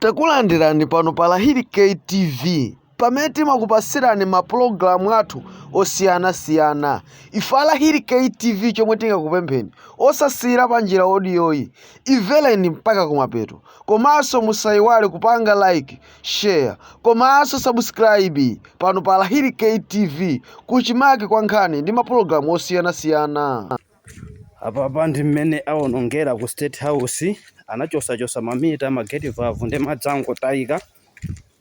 Takulandirani pano pa Lahiri K TV pamene timakupasirani ma program athu osiyana siyana ife a Lahiri K TV chomwe tingakupempheni osasiyira panjira audio yi imvereni mpaka kumapeto komanso musayiwale kupanga like share komanso subscribe pano pa Lahiri K TV kuchimake kwa nkhani ndi ma program osiyana siyana Apapa ndi mmene awonongera ku State House, anachosachosa ma meter, ma gate valve ndi madzi angotayika.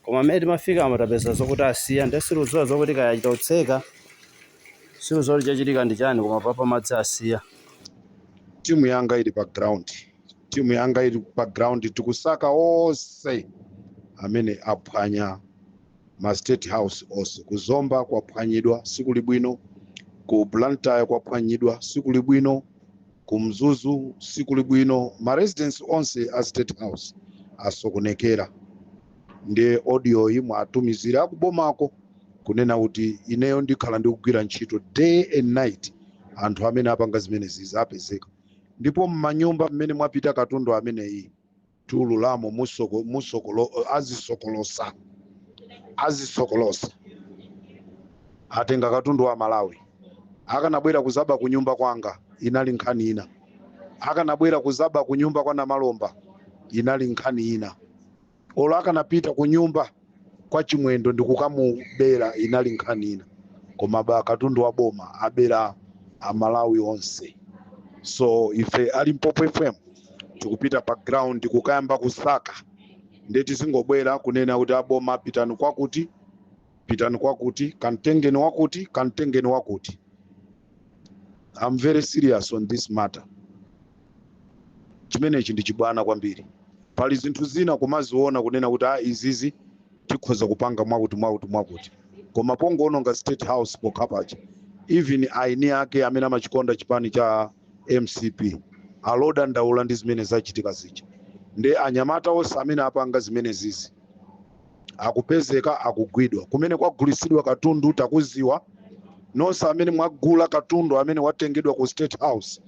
Koma mmene timafikamo tapeza zokuti asiya nde sitikudziwa zokuti kaya achita kutseka, sitikudziwa kuti chachitika ndi chani koma apapa madzi asiya. Timu yanga ili pa ground, timu yanga ili pa ground tikusaka onse amene aphwanya ma state house onse ku zomba kwaphwanyidwa sikuli bwino ku blantyre kwaphwanyidwa sikuli bwino ku mzuzu sikuli bwino ma residence onse a state house asokonekera ndi audio yi muwatumizire akubomako kunena kuti ineyo ndikhala ndikugwira ntchito day and night anthu amene apanga zimenezizi apezeka ndipo mmanyumba mmene mwapita katundu ameneyi tiululamo musoko, musokolo, azisokolosa azisokolosa atenga katundu wa amalawi akanabwera kuzaba kunyumba kwanga inali nkhani ina akanabwera kuzaba kunyumba kwa namalomba inali nkhani ina olo akanapita kunyumba kwa chimwendo ndi kukamubera inali nkhani ina koma aba katundu wa boma abera amalawi onse so ife a limpopo fm tikupita pa ground kukayamba kusaka ndiye tizingobwera kunena kuti aboma pitani kwakuti pitani kwakuti kamtengeni wakuti kamtengeni wakuti i'm very serious on this matter chimenechi ndi chibwana kwambiri pali zinthu zina kumaziona kunena kuti a izizi tikhoza kupanga mwakuti mwakuti mwakuti koma pongoononga state house pokha paja even aini ake amene amachikonda chipani cha mcp akudandaula ndi zimene zachitika zija ndiye anyamata onse amene apanga zimenezizi akupezeka akugwidwa kumene kwagulitsidwa katundu takuziwa nonse amene mwagula katundu amene watengedwa ku state house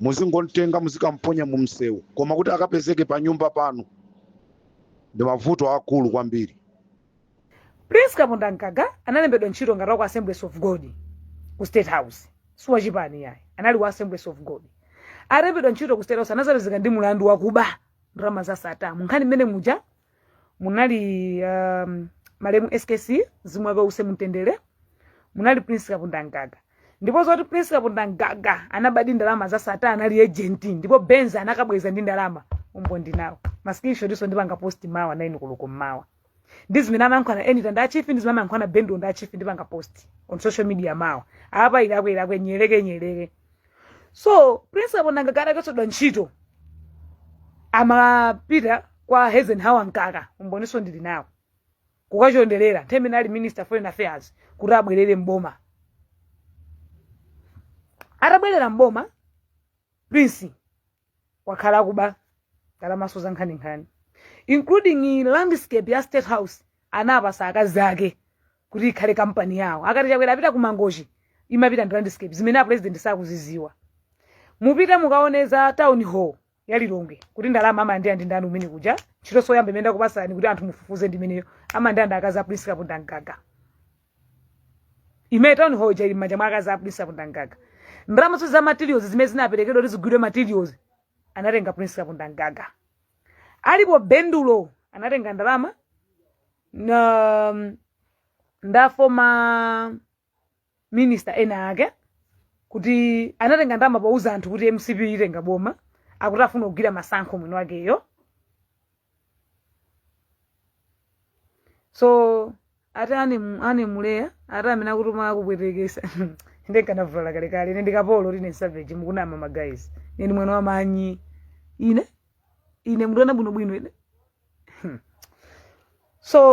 muzingomtenga muzikamponya mu msewu koma kuti akapezeke pa nyumba panu ndi mavuto aakulu kwambiri prince kapondamgaga analembedwa ntchito ngati waku assemblies of god ku state house siwachipani yayi anali wa assemblies of god alembedwa ntchito ku state house anazapezeka ndi mlandu wakuba ndalama za sata munkhani mmene muja munali um, malemu skc mzimu wake use mumtendere munali prince kapondamgaga ndipo zoti prince kapondamgaga anabadi ndalama za Sattar anali agent ndipo benz anakabweza ndi ndalama umboni ndili nawo ma screenshot-so ndipanga post mawa naini koloko mmawa ndi zimene amayankhulana enita ndi achifi ndi zimene amayankhulana bendo ndi achifi ndipanga post on social media mawa apa ilakwe ilakwe nyeleke nyeleke so principal nanga kale akachotsedwa ntchito amapita kwa Eisenhower mkaka umbonso ndili nawo kukachonderera nthawi imene ali minister of foreign affairs kuti abwerere mboma atabwerera mboma prince wakhala akuba ndalamaso za nkhaninkhani including landscape ya state house anapatsa akazi ake kuti ikhale kampani yawo akakhala chakwera apita ku mangochi imapita ndi landscape zimene apresident sakuzidziwa mupite mukaone za town hall ya lilongwe kuti ndalama amalandira ndi ndani umene kuja ntchito soyamba imene ndakupatsani kuti anthu mufufuze ndimeneyo amalandira ndi akazi a prince kapondamgaga imene town hall ija ili m'manja mwa akazi a prince kapondamgaga ndalama zonse za materials zimene zinaperekedwa kuti zigulidwe materials anatenga prince kapondamgaga alipo bendulo anatenga ndalama na um, ndi a former minister ena ake kuti anatenga ndalama pouza anthu kuti mcp itenga boma akuti afuna kugula masankho mwini wakeyo so ati anim- animuleya ati amene akukutuma akupwetekesa ndikanavulala kalekale ine ndikapolo ati ine savage mukunama magayizi ine ndi mwana wa manyi ine ine mundiona bwinobwino ine Hmm. so